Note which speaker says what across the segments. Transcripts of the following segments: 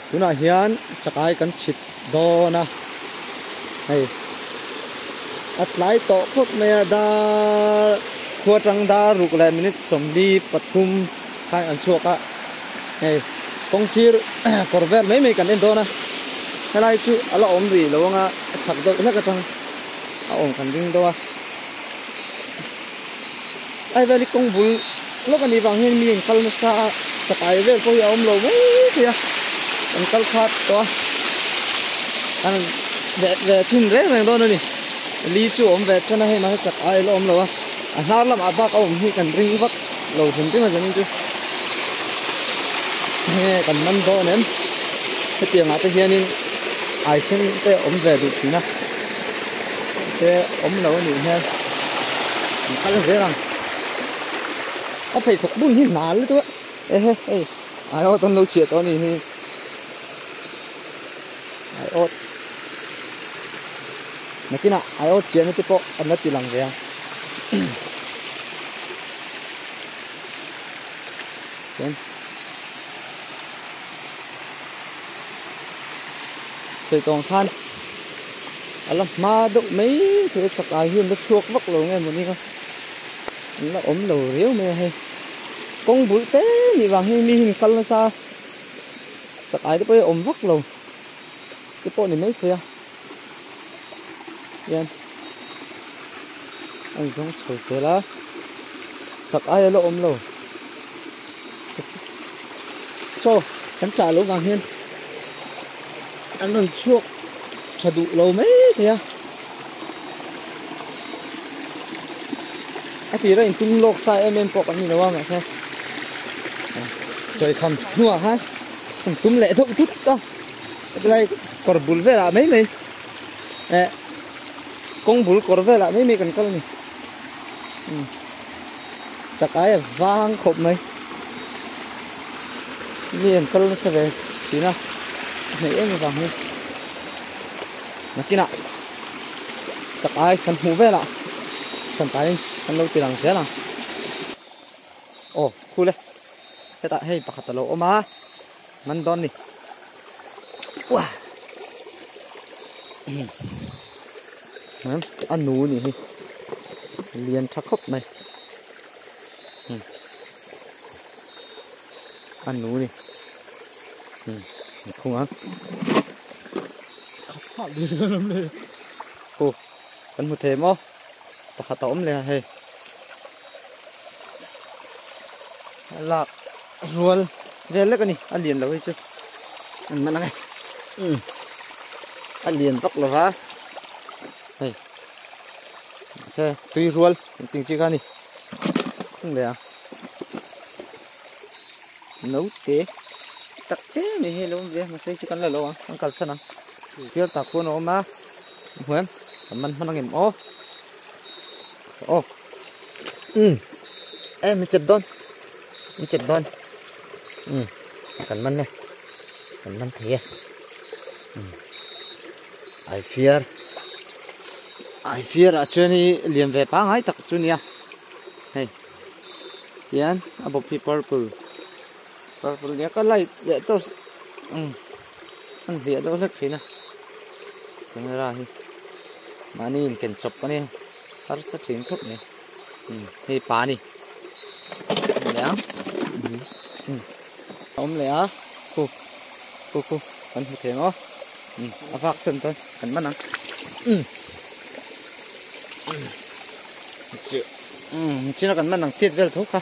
Speaker 1: tunah hian chakai kan chhit dawn a hei a tlai tawh phawt mai a dar khuatang dar ruk leh minute sawmli pathum-- khan an chhuak a hei kawng sir kawr vel mai mai kan en dawn a helai chu a la awm rih lo ang a a chhak deuh hlek atang a awm kan ding dawn a ai veli kawng bul lawk ani vang hian mi an kal nasa a chakai vel pawh hi a awm lo mai mai a an kal khat tawh a an ve ve chhin reng reng dawn a ni li chu a awm ve than a hei mahse chakai a la awm lo a a hnar lamah bak a awm hi kan ring vak. lo hlim tling a zen chu nge kan man dawn em hetiangah te hianin ai sen te awm ve duh thin a se awm lo anih hian an kal zel ang a phei thawk bul hi hna lutu a ehe ei ai awt an lo chhiah tawh anih hi ai awt Nakinah alo chiah na te pawh an la ti lang ve a. Chuan Saitawng khan a la hma deuh mai thei a chak ai hian la chhuak vak lo nge mawni a an la awm lo riau mai a hei kawng bul te ni vang hi mi hian kal nasa chak ai te pawh hi a awm vak lo te pawh ni maithei a hian a inzawng chho zel a chak aia la awm lo chaw kan chah lo vang hian an rawn chhuak tha duh lo mai thei a a tira in tung lawk sa em em pawh kan ni lo a mahse sawi kham hnuah khan an tum leh deuh tut a Hetilai kawr bul velah mai mai eh kawng bul kawr velah mai mai kan kal a ni hmm. chak ai a vang khawp mai mi em kal na se ve thina nei em vang hi nakina chak ai kan hmu velah kan pai kan lo ti lang zel ang oh khule heta hei pakhat alo oma Ngan dawn ni. Wah. Ngan a nu ni hi. Lian tha khawp mai. Hmm. A nu ni. Hmm. Khung ang. Khap khap đi ra lam le. Hu. Kan mu thei mo. Pakhat a om le hei. Lak zual vel lek a ni, a lian lo hi chu. An hman ang e. Umm. A lian vak lo va. Hei. Mahse tui rual kan tih chi kha a ni. Hung leh a. Naute tak te mai hi a lo awm ve a. Mahse chu kan la lo ang, kan kalsan ang. Fial tak pawh an awm a. Hmuiam. Kan man hman ang em aw. Aw. umm eh mi chep dawn mi chep dawn umm kan man e kan man thei e umm ai fiar ai fiar ah chuan hi lian ve pangai tak chu nia hei tian a bawp hi purple -- Purple leh ka light leh torch umm a ni hliah deuh hlek thin a camera hi mahni in ken chawp ka nia harsa thin khawp mai umm hei pa ni awm leh a umm a awm leh a khu khu khu kan hmu thei ang aw umm a vak sen chuan kan man ang umm umm umm chin a kan man ang tiat vel tho kha.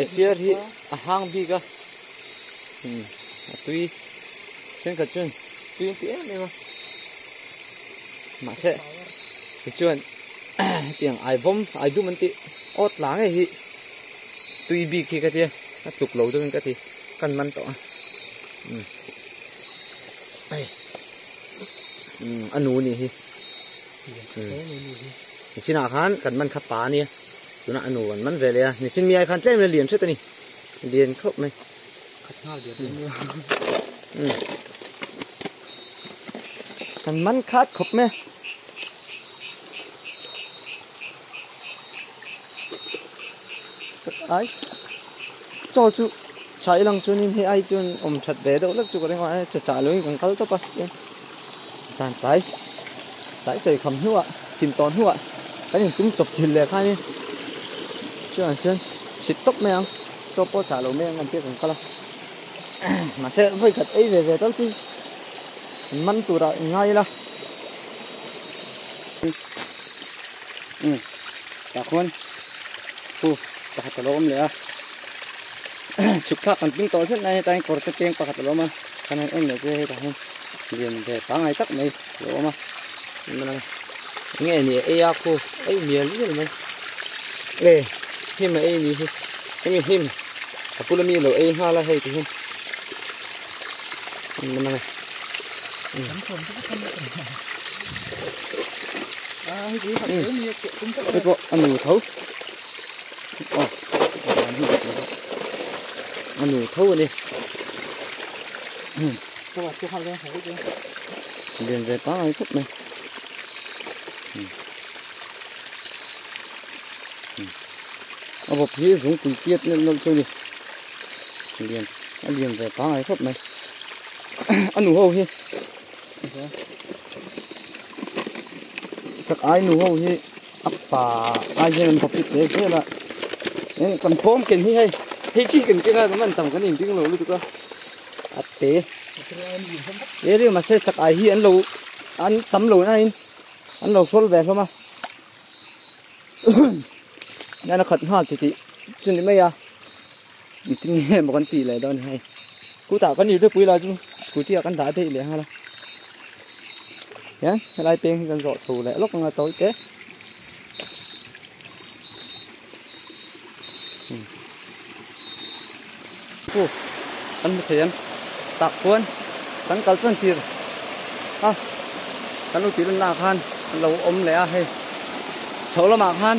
Speaker 1: I fear hi a hang bik a hmm a tui thenkhat chuan tui an ti em em a mahse ti chuan tiang ai bawm ai dum an tih aw tla nge hi tui bik hi ka tia a tluk lo deuhin ka ti kan man tawh a hmm ai hmm a nu ni hi hmm Nichin ah khan kan man kha pa a nia, tuna a nu an man ve leh a, Nichin miai khan tlem in a lian ṭhet a ni, lian khawp mai. Khat nghal bia tlem nia. Umm. Kan man khat khawp mai a. Ai, chaw chu chhah i lang chuan in hei ai chuan awm ṭhat ve deuh hlek chu ka ring a, ai chu chah lo in kan kal tawp a. Zan tlai tlai chawi kham hnu ah chhim tawn hnu ah kan in tum chawp chil leh khan i chu an chuan chhit tawp mai ang chaw pawh chah lo mai ang kan tih kan kal a mahse vawi khat ei ve ve tal chu in man tur ah in ngai ila um tah khawn pu pakhat alo awm leh a chhuk thlak kan tum tawh zet nai a hetah hian kawr te peng pakhat alo awm a. Kan han en leh chu hetah hian lian ve pangngai tak mai a lo awm a, hmun a enge a nih eia khu ei hmial mial mai e hnim a ei ni hi hemi hnim a pula mi lo ei nghal a hei tih hian hmun a a hei pawh a nu tho. anu tho a ni lian ve pangai khawp mai a bawp hi zungpui kiat nelh nawlh chu a ni lian a lian ve pangai khawp mai a nu ho hi chak ai nu ho hi A pa ai hian an topic leh zel a eng kan pawm ken hi hei hei chi kan keng a kan han tam kan in ding lo lutuk a a te e ri mahse chak ai hi an lo an tam lo na in an lo hrawl ve a hlawm a nana khat nghal ti tih chu ni mai a Meeting nge emaw kan tih leh dawn a ni hei. Khutah kan ir deuhpui lah chu scooty ah kan dah daih leh nghal a. Hian helai peng hi kan zawh chho leh lawk anga tawi te. Hmm. Pu, kan hmu thei an. Tak chuan kan kal chuan tir. A, kan lo tih lunna khan kan lo awm leh a hei. Chhoh lamah khan.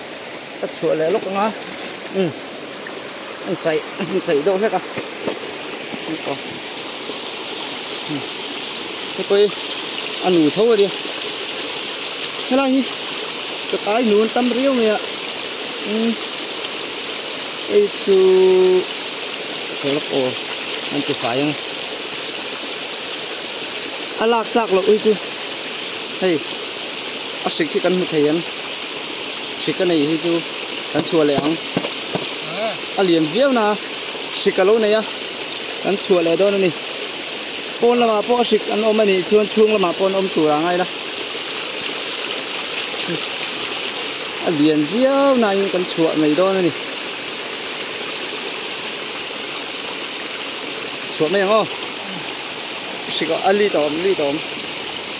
Speaker 1: Ka chhuah leh lawk anga umm an chaih an chaih deuh hlek a ni tawh umm te pawh hi a nu tho a nia helai hi chukai nu an tam riau mai a umm hei chu ka chhuah lawk aw an ti fai ang a lak tlak loh hi chu hei A hrik hi kan hmu thei an hrik a nei hi chu kan chhuah leh ang a lian viau na hrik a lo nei a kan chhuah leh dawn a ni pawn lamah pawh a hrik an awm a nih chuan chhung lamah pawh an awm tur ang ai la a lian viau na in kan chhuah mai dawn a ni chhuah mai ang aw hrik a li ta awm li ta awm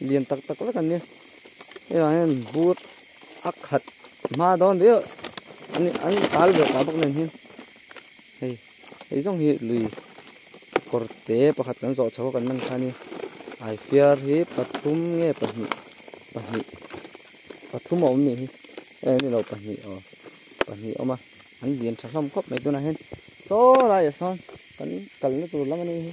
Speaker 1: Lian tak tak lek an ni a, hei vang hian bur a khat hma dawn viau an an kal ve ta bawk nen hian hei hei zawng hi lui kawr te pakhat kan zawh chho a kan man kha ni ai fiar hi pathum nge pahnih pahnih pathum a awm ni hi eh ni lo pahnih aw pahnih awm a an lian tha hlawm khawp mai tunah hian saw laiah sawn kan kalna tur lam a ni hi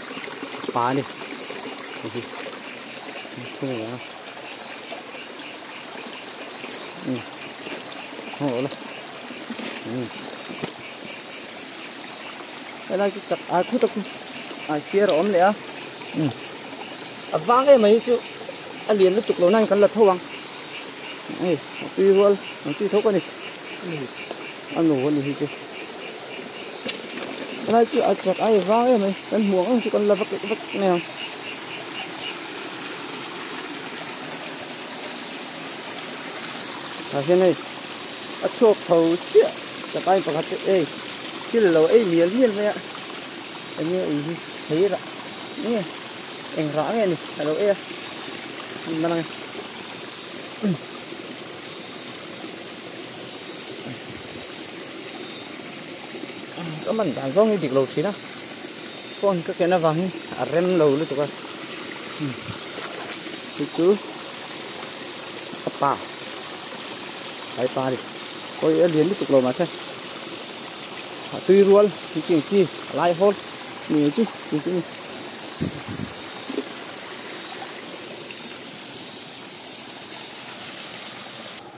Speaker 1: pa ni hi thil nia umm ho lo la umm helai chu chak ai khu tak ai fiar a awm leh a umm a vang em mai chu a lian lutuk lo nai kan la tho ang ei a tui rual ang chi tho ka ni a nu a ni hi chu Helai chu a chak ai vang em mai kan hmuh ang ang chu kan la vek vek mai ang. Tah hian hei a chhuak chho chiah chak ai pakhat chu ei thil lo ei mial mial mai a enge ei hi thei rah nge eng rah nge ni a lo ei a hmun man ang e. ka man dan zawng hi dik lo thin a phone ka ken avang hi a rem lo lutuk a chu chu ka pa kai pa ni koi a lian lutuk lo ma se a tui rual ti ti chi lai hol ni chu ti ti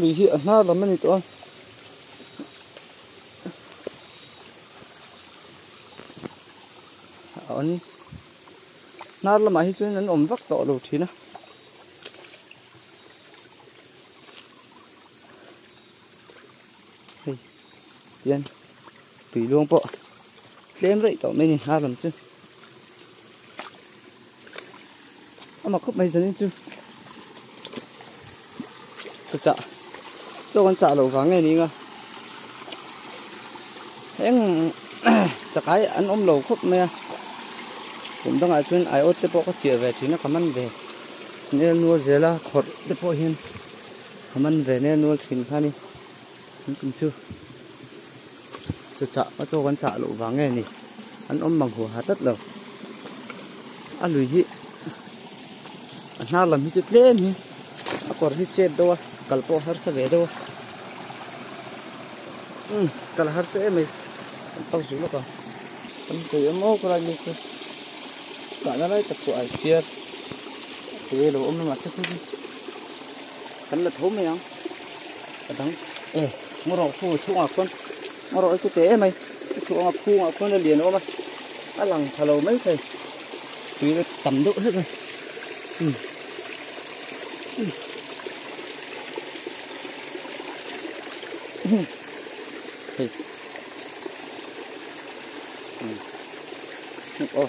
Speaker 1: lui hi a hnar lam a ni tawh a. An hnar lamah hi chuan an awm vak tawh lo thin a. Hei, tian tui luang pawh tlem raih tawh mai a ni hnar lam chu. ama khawp mai zanin chu chu chah chaw kan chah lo vang nge ninga eng chakai an awm lo khawp mai a kum dangah chuan ai awt te pawh ka chiah ve thin a ka man ve nel nual zela khawrh te pawh hian ka man ve nel nual thin kha ni An tum chu chu chah a tawk an chah loh vang nge ni an awm mang hua ha tlat lo a lui hi a hnar lam hi chu tlem hi a kawr hi chet deuh a kal pawh a harsa ve deuh a um kal a harsa em mai kan pang zulh lawk ang kan kei awm awk rai mai chu kahna lai tak pawh ai phiar a pe lo awm lamah se khup hi. Kan la tho mai ang. Ka dang e Ngarawh khu chhungah khuan Ngarawh chu te mai. Ka chhuh anga khungah khuan a lian awm a. A lang tha lo mai thei. Tui a tam deuh hlek a. Hmm. Hmm. Hey. Oh.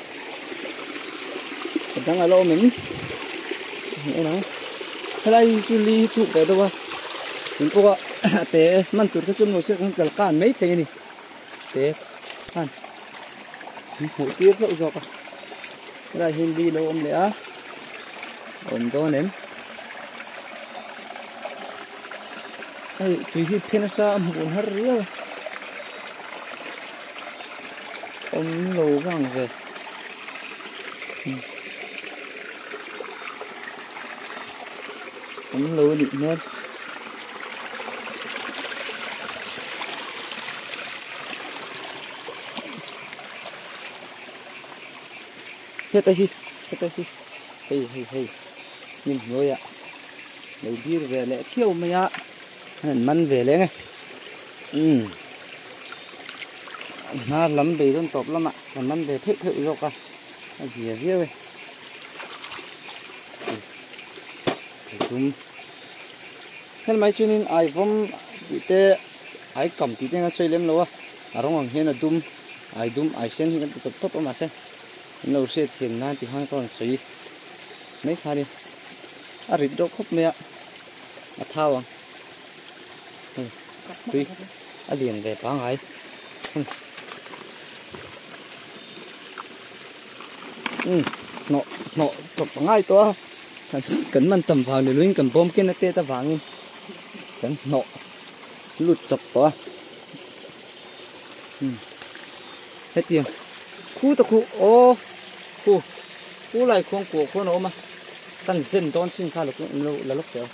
Speaker 1: dang ala awm em ni ang a helai hi chu li hi thuk ve deuh a tin pawh a a te man tur kha chu maw se kan kal kan mai thei a ni te khan kan hmuh tir hlauh zawk a helai hi li lo awm leh a awm dawn em hei tui hi phen a sa a hmuh hun har riau a awm lo vang ve awm lo a nih hmel heta hi heta hi hei hei hei min hnuaia lo dir ve leh khiau mai a an han man ve leng e Umm a hma lam bei dawn tawp lamah kan lam ve pheuh pheuh zawk a, a zia viau e. Ai tum. Helmai chuanin ai vawm tih te ai kam tih te an sawi lem lo a, a rawng ang hian a dum, ai dum ai sen hi kan ti tawp tawp a mahse min lo hriat thiam nan ti khan ka rawn sawi mai kha a ni. A rit deuh khawp mai a, a thau ang. tui a lian ve pangai hmm hmm hnawh hnawh tawp a ngai tawh a kan man tam vang leh lovin kan bawmkena tet avangin kan hnawh lut chawp tawh a hmm hetiang khu ta khu o khu khu lai khuang kuah khuan a awm a kan zen dawn chin kha la lawk teh ang.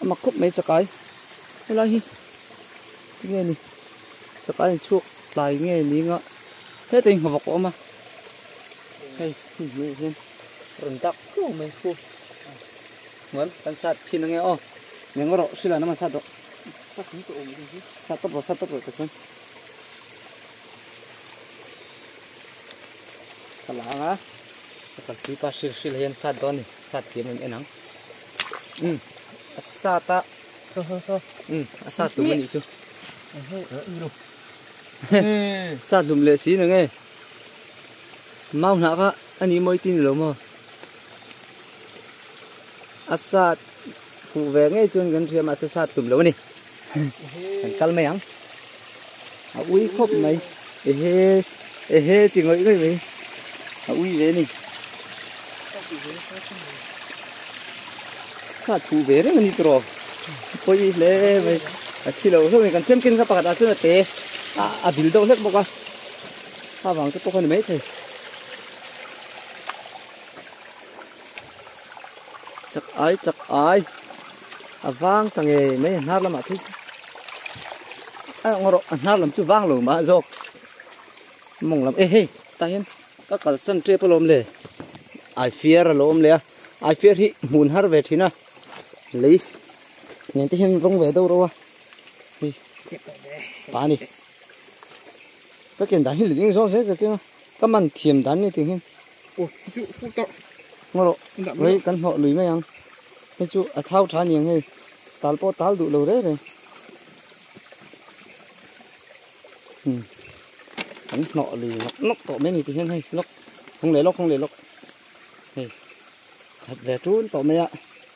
Speaker 1: a mak khawp mai chakai helai hi nge ni chakai in chhuak tlai nge ning a heta in nghawk a awm a hei hmun hmel hian rawn dak thlung mai fu mual kan sat chhin ange aw neng rawh sila na man sat rawh sat tawp rawh sat tawp rawh ta chuan Ka la ang a, ka kalpui pa hril hril hian sat dawn a ni, sat thiam a in en ang. Umm, a sat a. Saw saw saw. Umm, a sat hlum a nih chu. Sat hlum leh si nang e. Mau hnah kha a nih mawi ti ni lo maw? A sat fuh ve ngei chuan kan hria mahse sat hlum lo a ni. kan kal mai ang a ui khawp mai ehe ehe ti ngawih ngawih mai a ui ve ni sa thu ve reng ni tro poi hle mai a thilo hlawm mai kan chemkin ka pakhat a chuna te a bil deuh hlek bawk a ha vang te pawh ka ni mai thei chak ai chak ai a vang ta nge mai a hnar lamah thei a eng rawh a hnar lam chu vang lo mah zawk mawng lam e hei ta hian ka kalsan tep alawm le ai fiar alawm le a ai fiar hi hmun har ve thin a lei nen te hian rawng ve deuh rawa hei pa ni ka ken dan hi liding zawk zet ka keng a ka man thiam dan ni tih ang hian Aw, hei chu fuh tawh. Ngaw rawh, vei kan hnawh lui mai ang. Hei chu a thau tha aniang hei. Tal pawh tal duh lo rei rei. Hmm. Kan hnawh lui nawk nawk tawh mai a ni tih hian hei lawk. Hawng leh lawk, hawng leh lawk. Hei, khat ve tun tawh mai a.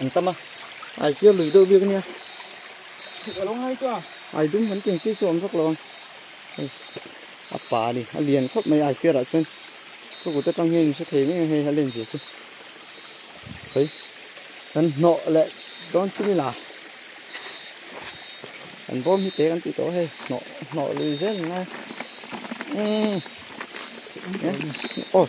Speaker 1: An tam a. Ai chiar lui deuh biak nia. Thut a lo ngai chu a. Ai dum han tih chi chu a awm vak lo ang. A pa ni a lian khawp mai ai chiar ah chuan ka kut atang hian in hre thei mai ang hei a len zir chu. Hei. Kan hnawh leh dawn chin ila. Kan bawm hi te kan tih tawh hei. Hnawh hnawh lui zel ni ngai. Umm. Oh.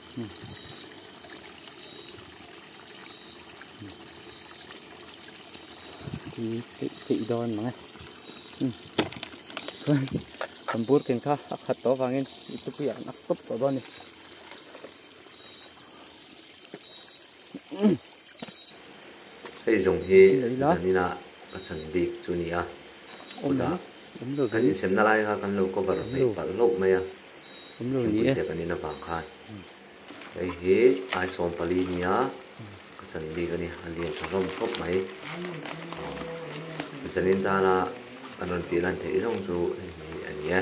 Speaker 1: ti ti ti don manga kan bur ken kha a khat tawh avangin i tupi ah nak tawp tawh dawn ni hei zawng hi zanina ka chan bik chu nia kawtah kan insemna lai kha kan lo cover hmel palh hlauh mai a. Thingpui te kan in avang khan hei hi ai sawm pali nia ka chan bik a ni a lian tha rawm khawp mai aw zanin dana an rawn tih lan theih zawng chu hei hi a ni e.